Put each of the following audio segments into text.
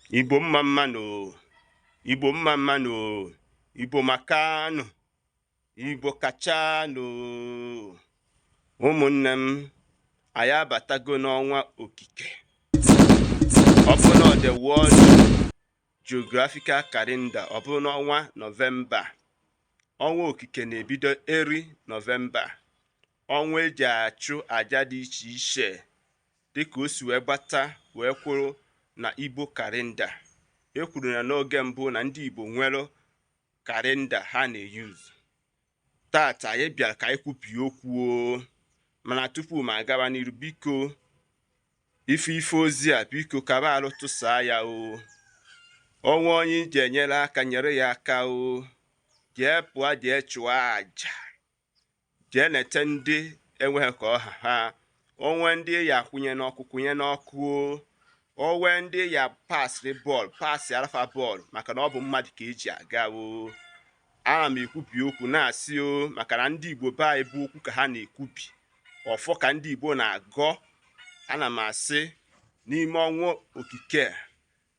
Igbo mma mma nụ Igbo mma mma nụ Igbo makanụ Igbo kachanụ ụmụnne m anyị abatago n'ọnwa okike ọ bụ na the world geographical calendar ọ bụ n'ọnwa nọvemba ọnwa okike na-ebido early nọvemba ọnwa eji achụ aja dị iche iche dịka o si wee gbata wee kwụrụ na Igbo kalenda. E kwuru na n'oge mbụ na ndị Igbo nwere kalenda ha na-eyuzu. Taata anyị bịara ka anyị kwubie okwu o. mana tupu m agaba n'iru biko ife ife ozi a biko kaba arụ tụsaa ya o o nwee onye ị ji enyere aka nyere ya aka o jee pụọ jee chụọ aja jee nete ndị enweghị ka ọ ha ha o nwee ndị ị ya-akwụnye n'ọkụ kwụnye n'ọkụ o nwee ndị ị ya-apasịrị bọọlụ pasịara fa bọọlụ maka na ọ bụ mmadụ ka eji aga o ana m ekwubi okwu na-asị o maka na ndị igbo be anyị bụ okwu ka ha na-ekwubi ọfọ ka ndị igbo na-agọ ana m asị n'ime ọnwa okike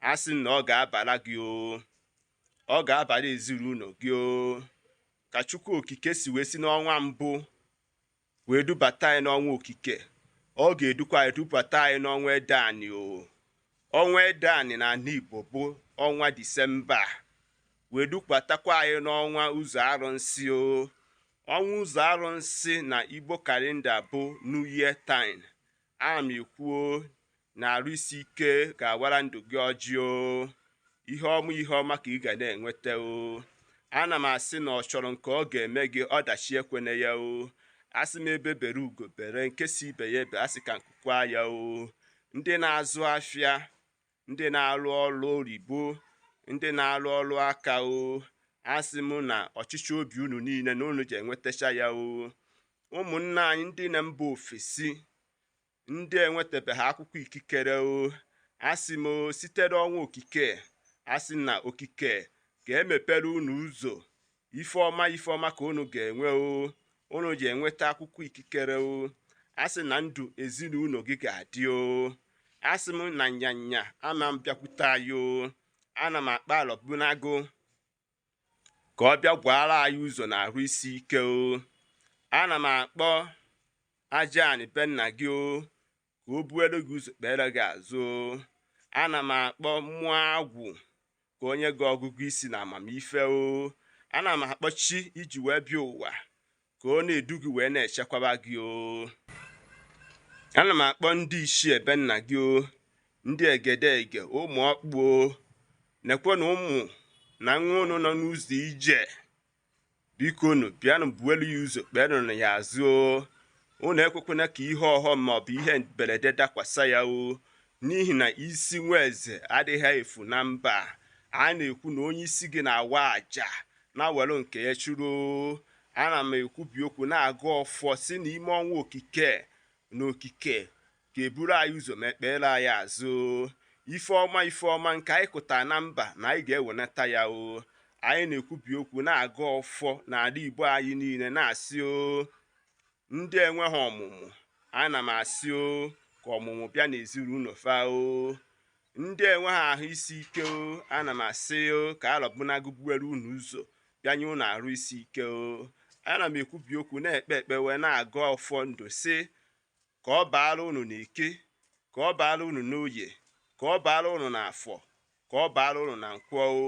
a sị na ọ ga-abara gị o ọ ga-abara ezinụlọ gị o ka chukwu okike si wee si n'ọnwa mbụ wee dubata anyị n'ọnwa okike ọ ga-edukwa anyị dubata anyị n'ọnwa ede ani o ọnwa ede ani na ala igbo bụ ọnwa disemba wee dukwatakwa anyị n'ọnwa ụzọ arụnsị o ọnwa ụzọ arụnsị na igbo kalenda bụ new year time ana m ekwu o na arụ isi ike ga-awara ndụ gị ọjị o ihe ọma ihe ọma ka ị ga na-enweta o ana m asị na ọ chọrọ nke ọ ga-eme gị ọdachi ekwene ya o asị m egbe bere ugo bere nke si ibe ya ebe asị ka nku kwaa ya o ndị na-azụ afịa ndị na-arụ ọrụ oyibo ndị na-arụ ọrụ aka o asị m na ọchịchọ obi unu niile na unu ji enwetacha ya o ụmụnna anyị ndị na mba ofesi Ndị enwetabeghị akwụkwọ ikikere o asị m o sitere ọnwa okike asị na okike ga-emepere unu ụzọ ife ọma ife ọma ka unu ga-enwe o unu ji enweta akwụkwọ ikikere o asị na ndụ ezinụlọ gị ga-adị o asị m na nyanya ama m bịakwute anyị o ana m akpọ alọbunagụ ka ọ bịa gwaara anyị ụzọ na arụ isi ike o ana m akpọ aja anị be nna gị o ka o buere gị ụzọ kpere gị azụ o ana m akpọ mmụọ agwụ ka o nye gị ọgụgụ isi na amamife o ana m akpọ chi i ji wee bịa ụwa ka ọ na-edu gị wee na-echekwaba gị o ana m akpọ ndị isi ebe nna gị o ndị egedege ụmụ okpu o nekwe na ụmụ na nwa unu nọ n'ụzọ ije bikonu bịanụ buelu ya ụzọ kpeenụ ya azụ o unu ekwekwana ka ihe ọghọm maọbụ ihe mberede dakwasa ya o n'ihi na isi nwa eze adịghị efu na mba a na-ekwu na onye isi gị na-awa aja na-ewere nke ya chụrụ o ana m ekwubi okwu na-agọ ọfọ sị n'ime ọnwa okike na okike ga-eburu anyị ụzọ ma ekpere anyị azụ ife ọma ife ọma nke anyị kụta na mba na anyị ga-ewenata ya o anyị na-ekwubi okwu na-agọ ọfọ n'ala igbo anyị niile na-asị o ndị enweghị ọmụmụ ana m asị o ka ọmụmụ bịa n'ezinụnọ fa o ndị enweghị ahụ isi ike o ana m asị o ka alọbụnagụ buwere unu ụzọ bịanye unu arụ isi ike o ana m ekwubi okwu na-ekpe ekpe wee na-agọ ọfọ ndụ sị ka ọ baara unu n'eke ka ọ baara unu n'oye ka ọ baara unu n'afọ ka ọ baara unu na nkwọ o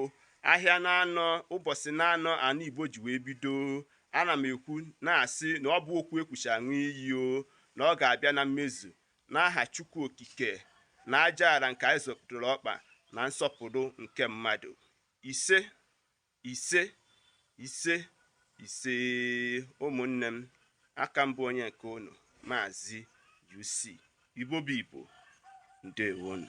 ahịa naanọ ụbọchị naanọ ana igbo ji wee bido ana m ekwu na-asị na ọ bụ okwu e kwuchaa a ṅụọ iyi o na ọ ga-abịa na mmezu n'aha chukwu okike na aja ala nke anyị zọkwudoro ọkpa na nsọpụrụ nke mmadụ ise ise ise ise ụmụnne m a ka m bụ onye nke unu maazị UC Igbo bụ Igbo ndewonu